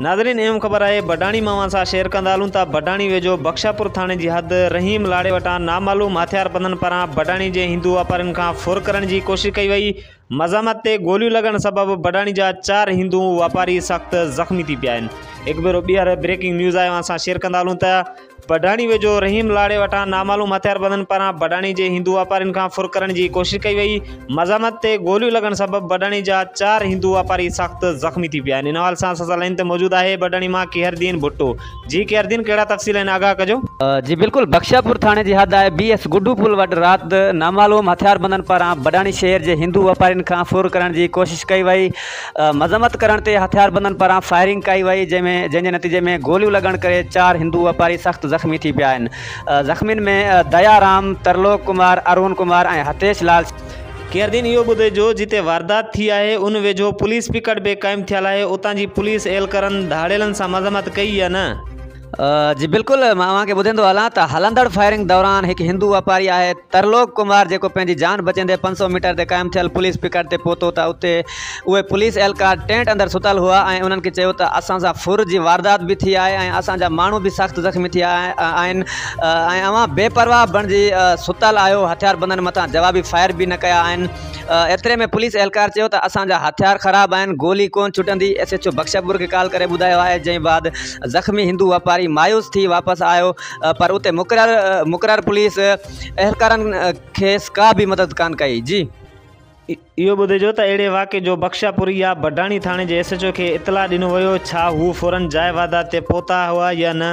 ناظرين ايم خبر آهي بڊاڻي مان اوهان سان شيئر ڪندا هلون ته بڊاڻي ويجهو بخشاپور ٿاڻي جي حد رحيم لاڙي وٽان نامعلوم هٿيار بندن پاران بڊاڻي جي هندو واپارين کان ڦر ڪرڻ جي ڪوشش ڪئي وئي مزاحمت تي گوليون لڳڻ سبب بڊاڻي جا چار هندو واپاري سخت زخمي ٿي پيا آهن هڪ ڀيرو ٻيهر بريڪنگ نيوز آهي اوهان سان شيئر ڪندا هلون ته بڊاڻي ويجهو رحيم لاڙي وٽان نامعلوم هٿياربندن پاران بڊاڻي جي هندو واپارين کان ڦر ڪرڻ جي ڪوشش ڪئي وئي، مزاحمت تي گوليون لڳڻ سبب بڊاڻي جا چار هندو واپاري سخت زخمي ٿي پيا آهن، ان حوالي سان اسان سان لائين تي موجود آهي بڊاڻي مان ڪيهردين ڀٽو، جي ڪيهردين ڪهڙا تفصيل آهن آگاهه ڪجو. جي بلڪل بخشاپور ٿاڻي جي حد آهي بي ايس گڊو پل وٽ رات نامعلوم هٿياربندن پاران بڊاڻي شهر جي هندو واپارين کان ڦر ڪرڻ جي ڪوشش ڪئي وئي، مذمت ڪرڻ تي هٿياربندن پاران فائرنگ ڪئي وئي جنهن ۾ جنهن جي نتيجي ۾ گوليون لڳڻ ڪري چار هندو واپاري سخت زخمي ٿي پيا آهن زخمين ۾ ديا رام، ترلوڪ ڪمار، ارون ڪمار ۽ هتيش لال شامل آهن. قيدين اهو ٻڌي جو جتي واردات ٿي آهي ان ويجهو پوليس پڪٽ به قائم ٿيل آهي اتان جي پوليس اهلڪرن ڌاڙيلن سان مذمت ڪئي يا نه؟ جي بلڪل مان اوهان کي ٻڌيندو هلان ته هلندڙ فائرنگ دوران هڪ هندو واپاري آهي. ترلوڪ ڪمار جيڪو پنهنجي جان بچيندي پنج سؤ ميٽر تي قائم ٿيل پوليس پڪٽ تي پهتو ته اتي اهي پوليس اهلڪار ٽينٽ اندر ستل هئا ۽ انهن کي چيو ته اسان سان ڦر جي واردات به ٿي آهي ۽ اسان جا ماڻهو به سخت زخمي ٿيا آهن ۽ اوهان بي پرواهه بڻجي ستل آهيو هٿياربندن مٿان جوابي فائر به نه ڪيا آهن ايتري ۾ پوليس اهلڪار چيو ته اسان جا هٿيار خراب آهن گولي ڪونه ڇٽندي ايس ايڇ او بخشپور کي ڪال ڪري ٻڌايو آهي جنهن بعد زخمي هندو واپاري مايوس ٿي واپس آيو پر اتي مقرر مقرر پوليس اهلڪارن کيس ڪا به مدد ڪانه ڪئي جي. اهو ٻڌجو ته اهڙي واقعي جو بخشاپور يا بڊاڻي ٿاڻي جي ايس ايڇ او کي اطلاع ڏنو ويو ڇا هو فورن جاء واردات تي پهتا هئا يا نه؟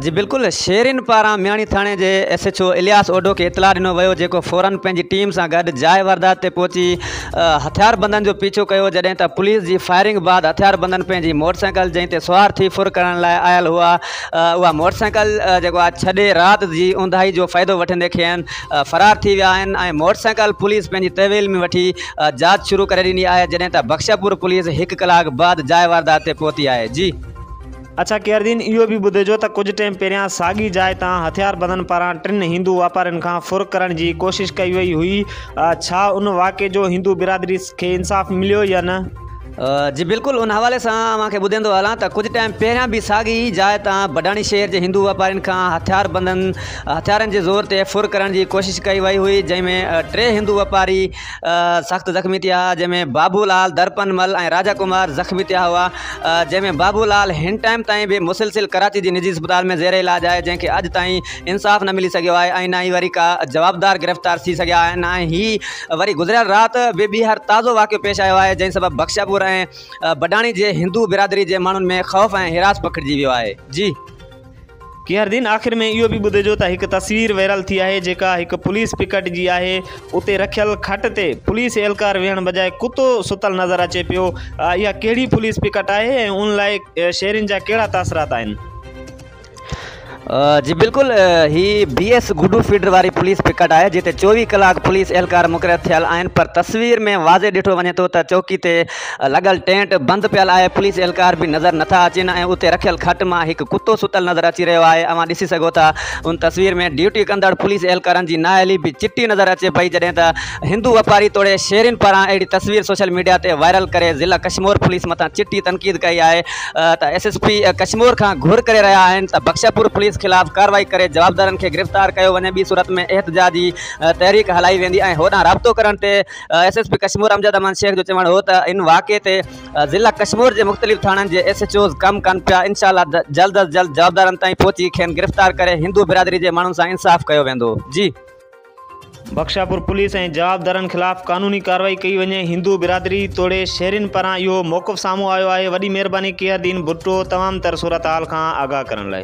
جي بلڪل شيرين پاران مياڻي ٿاڻي جي S H O Ilyas Odho کي اطلاع ڏنو ويو جيڪو فورن پنهنجي ٽيم سان گڏ جاء واردات تي پهچي هٿياربندن جو پيڇو ڪيو جڏهن ته پوليس جي فائرنگ بعد هٿياربندن پنهنجي موٽرسائيڪل جنهن تي سوار ٿي ڦر ڪرڻ لاء آيل هئا اها موٽرسائيڪل جيڪو آهي ڇڏي رات جي اونداهي جو فائدو وٺندي کين فرار ٿي ويا آهن ۽ موٽرسائيڪل پوليس پنهنجي تحويل ۾ وٺي جاچ شروع ڪري ڏني آهي جڏهن ته بخشپور پوليس هڪ ڪلاڪ بعد جاء واردات تي پهتي آهي جي اڇا قيردين اهو به ٻڌجو ته ڪجهه ٽيم پهريان ساڳي جاء تان هٿياربندن پاران ٽن هندو واپارين کان ڦر ڪرڻ جي ڪوشش ڪئي وئي هئي، ڇا ان واقعي جو هندو برادري کي انصاف مليو يا نه؟ جي بلڪل ان حوالي سان اوهان کي ٻڌيندو هلان ته ڪجهه ٽيم پهريان به ساڳي جاء تان بڊاڻي شهر جي هندو واپارين کان هٿياربندن هٿيارن جي زور تي ڦر ڪرڻ جي ڪوشش ڪئي وئي هئي جنهن ۾ ٽي هندو واپاري سخت زخمي ٿيا جنهن ۾ بابو لال درپن مل ۽ راجا ڪمار زخمي ٿيا هئا جنهن ۾ بابو لال هن ٽائيم تائين به مسلسل ڪراچي جي نجي اسپتال ۾ زير علاج آهي جنهن کي اڄ تائين انصاف نه ملي سگهيو آهي ۽ نه ئي وري ڪا جوابدار گرفتار ٿي سگهيا آهن ۽ هي وري گذريل رات به ٻيهر تازو واقعو پيش آيو آهي جنهن سبب بخشاپور ۽ بڊاڻي جي هندو برادري جي ماڻهن ۾ خوف ۽ هراس پکڙجي ويو آهي جي قياردين آخر ۾ اهو به ٻڌجو ته هڪ تصوير ويرال ٿي آهي جيڪا هڪ پوليس پڪٽ جي آهي اتي رکيل کٽ تي پوليس اهلڪار ويهڻ بجاء ڪتو ستل نظر اچي پيو اها ڪهڙي پوليس پڪٽ آهي ۽ ان لاء شهرين جا ڪهڙا تاثرات آهن. جي بلڪل هي بي ايس گڊو فيڊر واري پوليس پڪٽ آهي جتي چوويهه ڪلاڪ پوليس اهلڪار مقرر ٿيل آهن پر تصوير ۾ واضح ڏٺو وڃي ٿو ته چوڪي تي لڳل ٽينٽ بند پيل آهي، پوليس اهلڪار به نظر نه ٿا اچين ۽ اتي رکيل کٽ مان هڪ ڪتو ستل نظر اچي رهيو آهي، اوهان ڏسي سگهو ٿا ان تصوير ۾ ڊيوٽي ڪندڙ پوليس اهلڪارن جي نااهلي به چٽي نظر اچي پئي جڏهن ته هندو واپاري توڙي شهرين پاران اهڙي تصوير سوشل ميڊيا تي وائرل ڪري ضلع ڪشمور پوليس مٿان چٽي تنقيد ڪئي آهي ته ايس ايس پي ڪشمور کان گهر ڪري رهيا آهن ته بخشاپور پوليس خلاف ڪارروائي ڪري جوابدارن کي گرفتار ڪيو وڃي ٻي صورت ۾ احتجاجي تحريڪ هلائي ويندي ۽ هوڏانهن رابطو ڪرڻ تي S S P Kashmore Amjad Aman Shaikh جو چوڻ هو ته ان واقعي تي ضلع ڪشمور جي مختلف ٿاڻن جي ايس ايڇ اوز ڪم ڪن پيا انشاء الله جلد از جلد جوابدارن تائين پهچي کين گرفتار ڪري هندو برادري جي ماڻهن سان انصاف ڪيو ويندو جي بخشاپور پوليس ۽ جوابدارن خلاف قانوني ڪارروائي ڪئي وڃي هندو برادري توڙي شهرين پاران اهو موقف سامهون آيو آهي وڏي مهرباني ڪيئردين ڀٽو تمام تر صورتحال کان آگاهه ڪرڻ لاء.